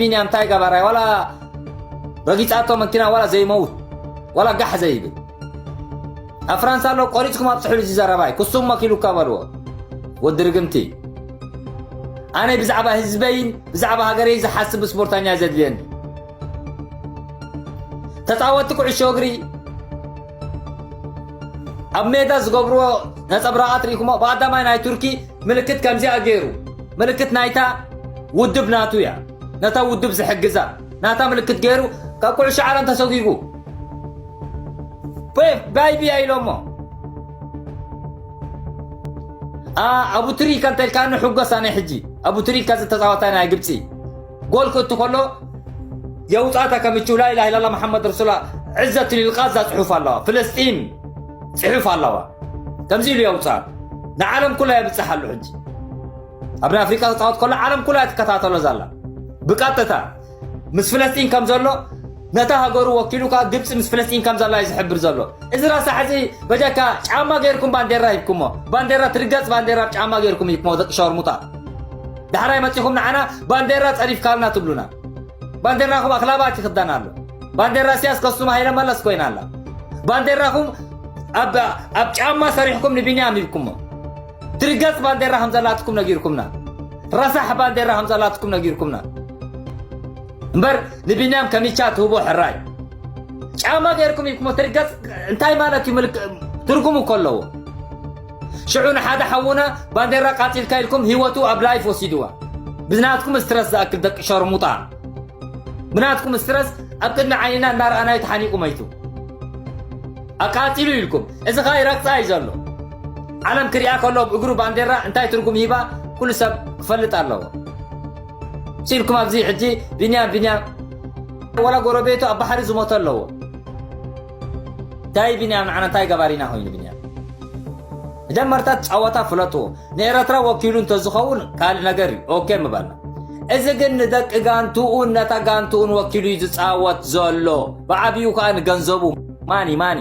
ቢንያም ታይ ገባራይ ዋላ ረጊጻቶ መኪና ዋላ ዘይመውት ዋላ ጋሕ ዘይብል ኣብ ፍራንሳ ኣሎ ቆሪፅኩም ኣብፅሕሉ እዚ ዘረባይ ክሱም መኪሉካ በልዎ ወዲ ርግምቲ ኣነ ብዛዕባ ህዝበይን ብዛዕባ ሃገረይ ዝሓስብ ስፖርተኛ ዘድልየኒ ተፃወቲ ኩዕሾ እግሪ ኣብ ሜዳ ዝገብርዎ ነፀብራቓት ርኢኹሞ ብኣዳማይ ናይ ቱርኪ ምልክት ከምዚኣ ገይሩ ምልክት ናይታ ውድብ ናቱ እያ ነታ ውድብ ዝሕግዛ ናታ ምልክት ገይሩ ካብ ኩዕሾ ዓለም ተሰጒጉ ፔፕ ባይቢያ ኢሎሞ ኣቡትሪካ እንተልካኒ ሕጎስ ኣነ ሕጂ ኣቡትሪካ ዝተፃወታ ናይ ግብፂ ጎል ክእቱ ከሎ የውጣታ ከምችው ላኢላ ላላ መሓመድ ረሱላ ዕዘቱ ልልቃዛ ፅሑፍ ኣለዋ ፍለስጢን ፅሑፍ ኣለዋ ከምዚ ኢሉ የውፅኣ ንዓለም ኩላ የብፅሕ ኣሉ ሕጂ ኣብ ናይ ኣፍሪቃ ክፃወት ከሎ ዓለም ኩላ ትከታተሎ ዘላ ብቀጥታ ምስ ፍለስጢን ከም ዘሎ ነታ ሃገሩ ወኪሉ ከዓ ግብፂ ምስ ፍለስጢን ከም ዘላ እዩ ዝሕብር ዘሎ እዚ ራሳ ሕዚ በጃካ ጫማ ገይርኩም ባንዴራ ሂብኩሞ ባንዴራ ትርገፅ ባንዴራ ጫማ ገይርኩም ሂብኩሞ ደቂ ሸርሙጣ ዳሕራይ መጺኹም ንዓና ባንዴራ ጸዲፍካልና ትብሉና። ባንዴራኹም ኣኽላባት ይኽደን ኣሎ። ባንዴራ እሲያስ ከሱም ሃይለ መለስ ኮይና ኣላ። ባንዴራኹም ኣብ ጫማ ሰሪሕኩም ንቢንያም ሂብኩሞ። ትርገጽ ባንዴራ ከም ዘላትኩም ነጊርኩምና። ረሳሕ ባንዴራ ከም ዘላትኩም ነጊርኩምና። እምበር ንቢንያም ከሚቻ ትህቦ ሕራይ ጫማ ገይርኩም ሂብኩሞ። ትርገጽ እንታይ ማለት እዩ ትርጉሙ እኮ ኣለዎ። ሽዑ ንሓደ ሓውና ባንዴራ ቃጺልካ ኢልኩም ሂወቱ ኣብ ላይፍ ወሲድዋ ብናትኩም ስትረስ ዝኣክል ደቂ ሸርሙጣ ብናትኩም ስትረስ ኣብ ቅድሚ ዓይንና እናረኣናዩ ተሓኒቁ መይቱ ኣቃጺሉ ኢልኩም እዚ ከኣ ይረግጻ እዩ ዘሎ ዓለም ክሪኣ ከሎ ኣብ እግሩ ባንዴራ እንታይ ትርጉም ሂባ ኩሉ ሰብ ክፈልጥ ኣለዎ ሲልኩም ኣብዚ ሕጂ ቢንያም ቢንያም ወላ ጎረቤቱ ኣብ ባሕሪ ዝሞተ ኣለዎ ዳይ ብንያም ንዓና እንታይ ገባሪና ኮይኑ ብንያም መጀመርታ ጸወታ ፍለጥዎ ንኤረትራ ወኪሉ እንተዝኸውን ካልእ ነገር እዩ ኦኬ ምበልና እዚ ግን ንደቂ ጋንትኡን ነታ ጋንትኡን ወኪሉ እዩ ዝጻወት ዘሎ ብዓብኡ ከዓ ንገንዘቡ ማኒ ማኒ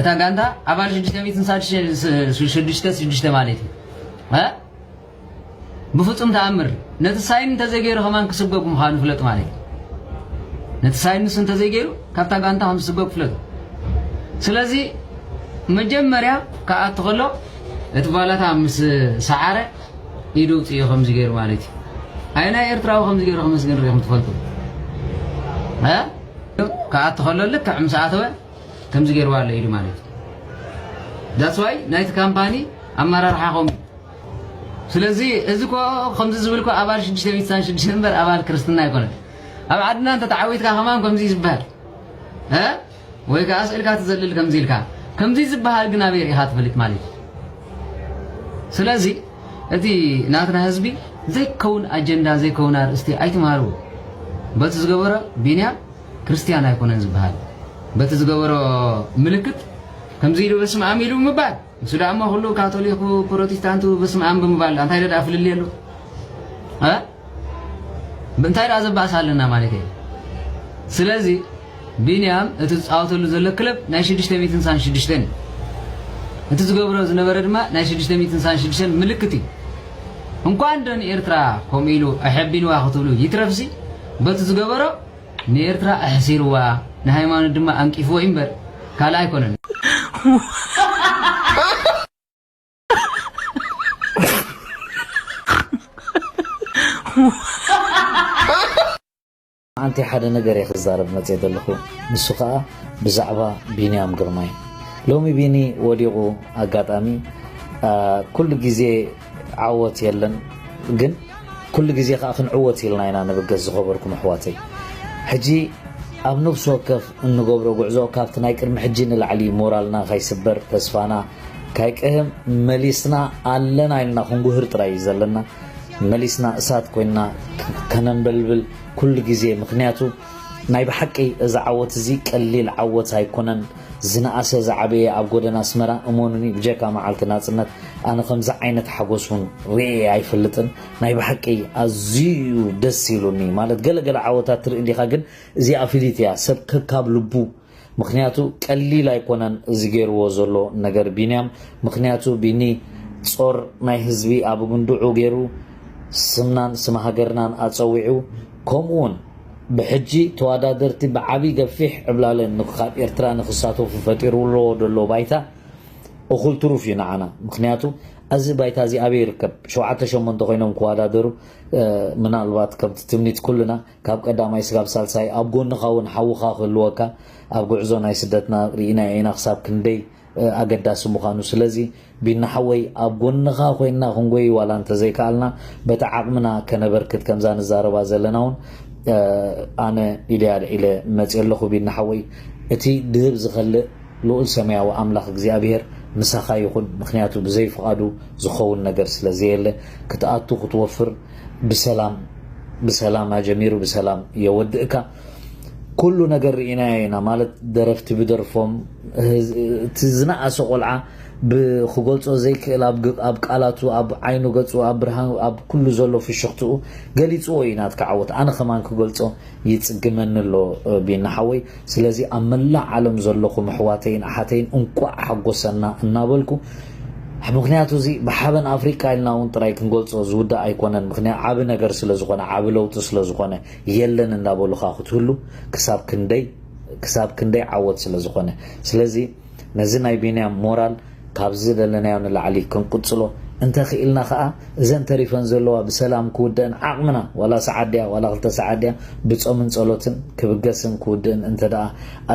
እታ ጋንታ ኣባል ሽዱሽተ ሚእትን ሳድሽተ- ሽዱሽተ ሽዱሽተ ማለት እዩ እ? ብፍጹም ተኣምር ነቲ ሳይን እንተዘይገይሩ ከማን ክስጎግ ምዃኑ ፍለጡ ማለት እዩ ነቲ ሳይን ንሱ እንተዘይገይሩ ካብታ ጋንታ ከም ዝስጎግ ፍለጡ ስለዚ መጀመርያ ክኣቱ ከሎ እቲ ባላታ ምስ ሰዓረ ኢዱ ውፅዮ ከምዚ ገይሩ ማለት እዩ ኣይ ናይ ኤርትራዊ ከምዚ ገይሩ ከመስግን ርኢኹም ትፈልጡ እ? ክኣቱ ከሎ ልክዕ ምስ ኣተወ ከምዚ ገይርዋ ኣሎ ኢሉ ማለት እዩ ዳትስ ዋይ ናይቲ ካምፓኒ ኣመራርሓ ከምኡ ስለዚ እዚ ኮ ከምዚ ዝብል ኮ ኣባል ሽዱሽተ ቤት ሳን ሽዱሽተ እምበር ኣባል ክርስትና ኣይኮነን ኣብ ዓድና እንተ ተዓዊትካ ከማን ከምዚ ዝበሃል እ ወይ ከዓ ስእልካ ትዘልል ከምዚ ኢልካ ከምዚ ዝበሃል ግን ኣበይ ርኢኻ ትፈልጥ ማለት እዩ ስለዚ እቲ ናትና ህዝቢ ዘይከውን ኣጀንዳ ዘይከውን ኣርእስቲ ኣይትምሃርዎ በቲ ዝገበሮ ቢንያም ክርስትያን ኣይኮነን ዝበሃል በቲ ዝገበሮ ምልክት ከምዚ ኢሉ በስመ ኣም ኢሉ ምባል ንሱ ደኣ እሞ ኩሉ ካቶሊኩ ፕሮቴስታንቱ በስመ ኣም ብምባል እንታይ ደኣ ፍልልይ ኣሎ እንታይ ደኣ ዘባእሳ ኣለና ማለት እዩ ስለዚ ቢንያም እቲ ዝፃወተሉ ዘሎ ክለብ ናይ 666 እዩ እቲ ዝገብሮ ዝነበረ ድማ ናይ 666 ምልክት እዩ እንኳን ዶ ንኤርትራ ከምኡ ኢሉ ኣሐቢንዋ ክትብሉ ይትረፍሲ በቲ ዝገበሮ ንኤርትራ ኣሕሲርዋ ንሃይማኖት ድማ ኣንቂፍዎ እዩ እምበር ካልእ ኣይኮነን። ኣንቲ ሓደ ነገር እየ ክዛረብ መፅየ ዘለኹ ንሱ ከዓ ብዛዕባ ቢንያም ግርማይ ሎሚ ቢኒ ወዲቑ ኣጋጣሚ ኩሉ ግዜ ዓወት የለን ግን ኩሉ ግዜ ከኣ ክንዕወት ኢልና ኢና ንብገስ ዝኸበርኩም ኣሕዋተይ ሕጂ ኣብ ነብሲ ወከፍ እንገብሮ ጉዕዞ ካብቲ ናይ ቅድሚ ሕጂ ንላዕሊ ሞራልና ካይስበር ተስፋና ካይቅህም መሊስና ኣለና ኢልና ክንጉህር ጥራይ እዩ ዘለና መሊስና እሳት ኮይንና ከነንበልብል ኩሉ ግዜ ምክንያቱ ናይ ብሓቂ እዚ ዓወት እዚ ቀሊል ዓወት ኣይኮነን ዝነኣሰ ዝዓበየ ኣብ ጎደና ኣስመራ እመኑኒ ብጀካ መዓልቲ ናጽነት ኣነ ከምዚ ዓይነት ሓጎስ ውን ርእየ ኣይፈልጥን ናይ ብሓቂ ኣዝዩዩ ደስ ኢሉኒ ማለት ገለ ገለ ዓወታት ትርኢ ዲካ ግን እዚኣ ፍልይቲ እያ ሰብ ከካብ ልቡ ምክንያቱ ቀሊል ኣይኮነን እዚ ገርዎ ዘሎ ነገር ቢንያም ምክንያቱ ቢኒ ጾር ናይ ህዝቢ ኣብ እግንድዑ ገሩ ስምናን ስም ሃገርናን ኣጸዊዑ ከምኡውን ብሕጂ ተዋዳደርቲ ብዓቢ ገፊሕ ዕብላለ ንካብ ኤርትራ ንክሳተፉ ፈጢርውልዎ ደሎ ባይታ እኩል ትሩፍ እዩ ንዓና ምክንያቱ ኣዚ ባይታ እዚ ኣበይ ይርከብ ሸውዓተ ሸሞንተ ኮይኖም ክዋዳደሩ ምናልባት ከምቲ ትምኒት ኩልና ካብ ቀዳማይ ስጋብ ሳልሳይ ኣብ ጎንካ ውን ሓውካ ክህልወካ ኣብ ጉዕዞ ናይ ስደትና ርኢናዮ ኢና ክሳብ ክንደይ ኣገዳሲ ምዃኑ ስለዚ ቢኒ ሓወይ ኣብ ጎንኻ ኮይንና ክንጎይ ዋላ እንተዘይከኣልና በቲ ዓቕምና ከነበርክት ከምዛ ንዛረባ ዘለና እውን ኣነ ኢደይ ኣልዒለ መፅየ ኣለኹ ቢኒ ሓወይ እቲ ድህብ ዝኸልእ ልኡል ሰማያዊ ኣምላኽ እግዚኣብሄር ምሳኻ ይኹን ምክንያቱ ብዘይ ፍቓዱ ዝኸውን ነገር ስለ ዘየለ ክትኣቱ ክትወፍር ብሰላም ብሰላም ኣጀሚሩ ብሰላም የወድእካ ኩሉ ነገር ርኢናዮ ኢና ማለት ደረፍቲ ብደርፎም እቲ ዝነኣሰ ቆልዓ ብክገልጾ ዘይክእል ኣብ ቃላቱ ኣብ ዓይኑ ገጹ ኣብ ብርሃን ኣብ ኩሉ ዘሎ ፍሽኽትኡ ገሊጽዎ እዩ ናትካ ዓወት ኣነ ከማን ክገልጾ ይጽግመኒ ኣሎ ቢኒ ሓወይ ስለዚ ኣብ መላእ ዓለም ዘለኹም ኣሕዋተይን ኣሓተይን እንቋዕ ሓጎሰና እናበልኩ ምክንያቱ እዚ ብሓበን ኣፍሪቃ ኢልና እውን ጥራይ ክንገልጾ ዝውዳእ ኣይኮነን ምክንያት ዓቢ ነገር ስለ ዝኾነ ዓቢ ለውጢ ስለ ዝኾነ የለን እንዳበሉኻ ክትህሉ ክሳብ ክንደይ ክሳብ ክንደይ ዓወት ስለ ዝኾነ ስለዚ ነዚ ናይ ቢንያም ሞራል ካብ ዝደለናዮ ንላዕሊ ክንቅጽሎ እንተኽኢልና ከኣ እዘን ተሪፈን ዘለዋ ብሰላም ክውደእን ዓቕምና ዋላ ሰዓት ድያ ዋላ ክልተ ሰዓት ድያ ብጾምን ጸሎትን ክብገስን ክውድእን እንተደኣ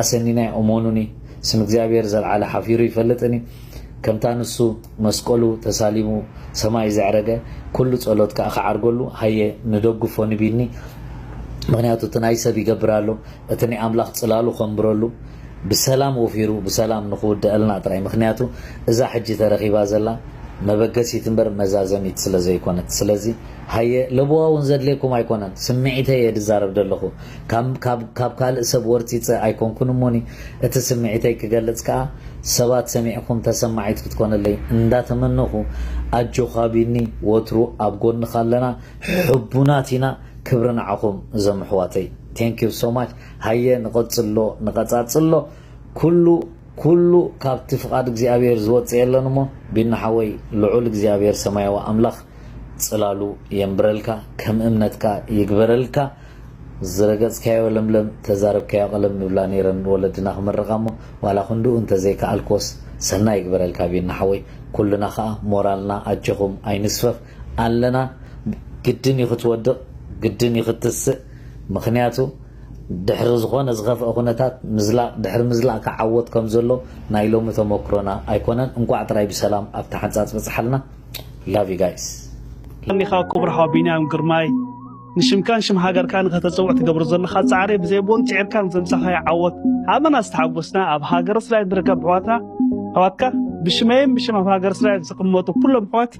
ኣሰኒናዮ እሞኑኒ ስም እግዚኣብሔር ዘልዓለ ሓፊሩ ይፈልጥን እዩ ከምታ ንሱ መስቀሉ ተሳሊሙ ሰማይ ዘዕረገ ኩሉ ጸሎት ከኣ ክዓርገሉ ሃየ ንደግፎ ንቢኒ ምክንያቱ እቲ ናይ ሰብ ይገብር ኣሎ እቲ ናይ ኣምላክ ጽላሉ ከንብረሉ ብሰላም ወፊሩ ብሰላም ንክውደኣልና ጥራይ ምክንያቱ እዛ ሕጂ ተረኪባ ዘላ መበገሲት እምበር መዛዘሚት ስለ ዘይኮነት ስለዚ ሃየ ለበዋ ውን ዘድልየኩም ኣይኮነን ስምዒተይ እየ ድዛረብ ደለኩ ከም ካብ ካብ ካልእ ሰብ ወርጺጸ ኣይኮንኩን እሞኒ እቲ ስምዒተይ ክገልጽ ከኣ ሰባት ሰሚዕኩም ተሰማዒት ክትኮነለይ እንዳ ተመነኹ ኣጆኻ ቢኒ ወትሩ ኣብ ጎንኻ ኣለና ሕቡናት ኢና ክብሪ ንዓኹም እዞም ኣሕዋተይ thank you so much ሃየ ንቐጽሎ ንቐጻጽሎ ኩሉ ኩሉ ካብቲ ፍቓድ እግዚኣብሔር ዝወጽእ የለን እሞ ቢኒ ሓወይ ልዑል እግዚኣብሔር ሰማያዊ ኣምላኽ ጽላሉ የንብረልካ ከም እምነትካ ይግበረልካ ዝረገጽካዮ ለምለም ተዛረብካዮ ቀለም ምብላ ነይረን ንወለድና ክምርቃ እሞ ዋላ ክንድኡ እንተ ዘይከኣልክዎስ ሰናይ ይግበረልካ ቢኒ ሓወይ ኩልና ከኣ ሞራልና ኣጆኹም ኣይንስፈፍ ኣለና ግድን እዩ ክትወድቅ ግድን እዩ ክትስእ ምኽንያቱ ድሕሪ ዝኾነ ዝኸፍኣ ኩነታት ምዝላቅ ድሕሪ ምዝላቅ ከኣ ዓወት ከም ዘሎ ናይ ሎሚ ተሞክሮና ኣይኮነን እንቋዕ ጥራይ ብሰላም ኣብ ታሕንጻጽ በጽሓልና love you guys። ኣሚኻ ኩቡር ሓው ቢንያም ግርማይ። ንሽምካን ሽም ሃገርካ ንኸተጸውዕ ትገብሮ ዘለኻ ጻዕሪ ብዘይ ቦን ጽዒርካን ዘምጻኻዮ ዓወት ኣመና ዝተሓጎስና ኣብ ሃገረ ስራይ ዝርከብ ኣሕዋትና ኣሕዋትካ ብሽመይን ብሽም ኣብ ሃገረ ስራይ ዝቕመጡ ኩሎም ኣሕዋት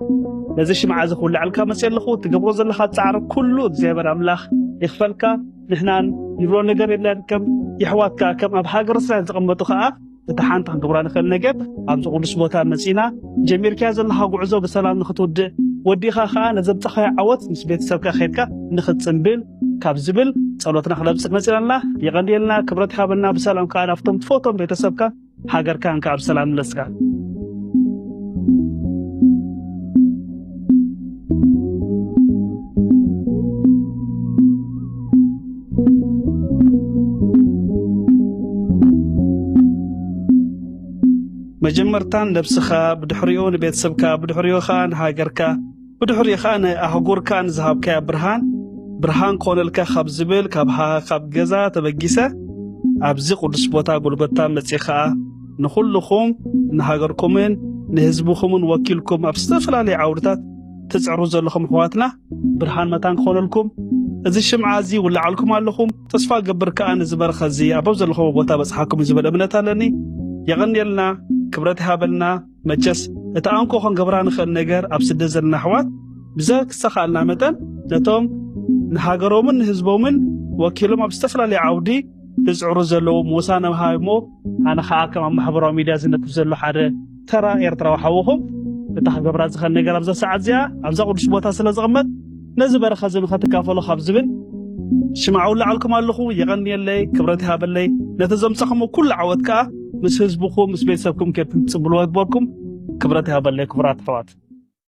ነዚ ሽምዓ እዚ ክውልዐልካ መጽ ኣለኹ ትገብሮ ዘለኻ ጻዕሪ ኩሉ እግዚኣብሔር ኣምላኽ ይኽፈልካ ንሕናን ንብሎ ነገር የለን ከም የሕዋትካ ከም ኣብ ሃገረ ስራይ ዝቕመጡ ከኣ እቲ ሓንቲ ክንገብራ ንኽእል ነገር ኣብዚ ቅዱስ ቦታ መጺና ጀሚርካዮ ዘለኻ ጉዕዞ ብሰላም ንኽትውድእ ወዲእኻ ከዓ ነዘብፀኻዮ ዓወት ምስ ቤተሰብካ ኸድካ ንኽትፅምብል ካብ ዝብል ጸሎትና ክነብጽሕ መጺና ኣለና። የቐንየልና፣ ክብረት ይሃበልና። ብሰላም ከዓ ናብቶም ትፈቶም ቤተሰብካ ሃገርካን ከዓ ብሰላም ምለስካ። መጀመርታን ነብስኻ ብድሕሪኡ ንቤተሰብካ ብድሕሪኡ ኸኣ ንሃገርካ ብድሕሪኡ ኸኣ ንኣህጉርካን ዝሃብካያ ብርሃን ብርሃን ኮነልካ ካብ ዝብል ካብ ሃ ካብ ገዛ ተበጊሰ ኣብዚ ቅዱስ ቦታ ጎልጎታ መጺ ኸኣ ንኹልኹም ንሃገርኩምን ንህዝብኹምን ወኪልኩም ኣብ ዝተፈላለዩ ዓውድታት ትጽዕሩ ዘለኹም ኣሕዋትና ብርሃን መታን ክኾነልኩም እዚ ሽምዓ እዚ ውላዓልኩም ኣለኹም ተስፋ ገብር ከኣ እዚ በረኸ እዚ ኣብ ዘለኹም ቦታ በጽሓኩም እዩ ዝብል እምነት ኣለኒ የቐንየልና ክብረት ይሃበልና መቸስ እቲ ኣንኮ ክንገብራ ንኽእል ነገር ኣብ ስደት ዘለና ኣሕዋት ብዘተኻእልና መጠን ነቶም ንሃገሮምን ንህዝቦምን ወኪሎም ኣብ ዝተፈላለዩ ዓውዲ ዝጽዕሩ ዘለዉ ሞሳ ነምሃ እሞ ኣነ ከኣ ከም ኣብ ማሕበራዊ ሚድያ ዝነጥፍ ዘሎ ሓደ ተራ ኤርትራዊ ሓውኹም እታ ክገብራ ዝኸል ነገር ኣብዛ ሰዓት እዚኣ ኣብዛ ቅዱስ ቦታ ስለ ዝቕመጥ ነዚ በረኸት እዚ ንኸትካፈሎ ካብ ዝብል ሽምዓ ውላዓልኩም ኣለኹ የቐንየለይ ክብረት ይሃበለይ ነቲ ዘምጻኹሞ ኩሉ ዓወት ከኣ ምስ ህዝብኹም ምስ ቤተሰብኩም ኬድኩም ትጽብልዎ ይግበርኩም ክብረት ይሃበለይ ክቡራት ኣሕዋት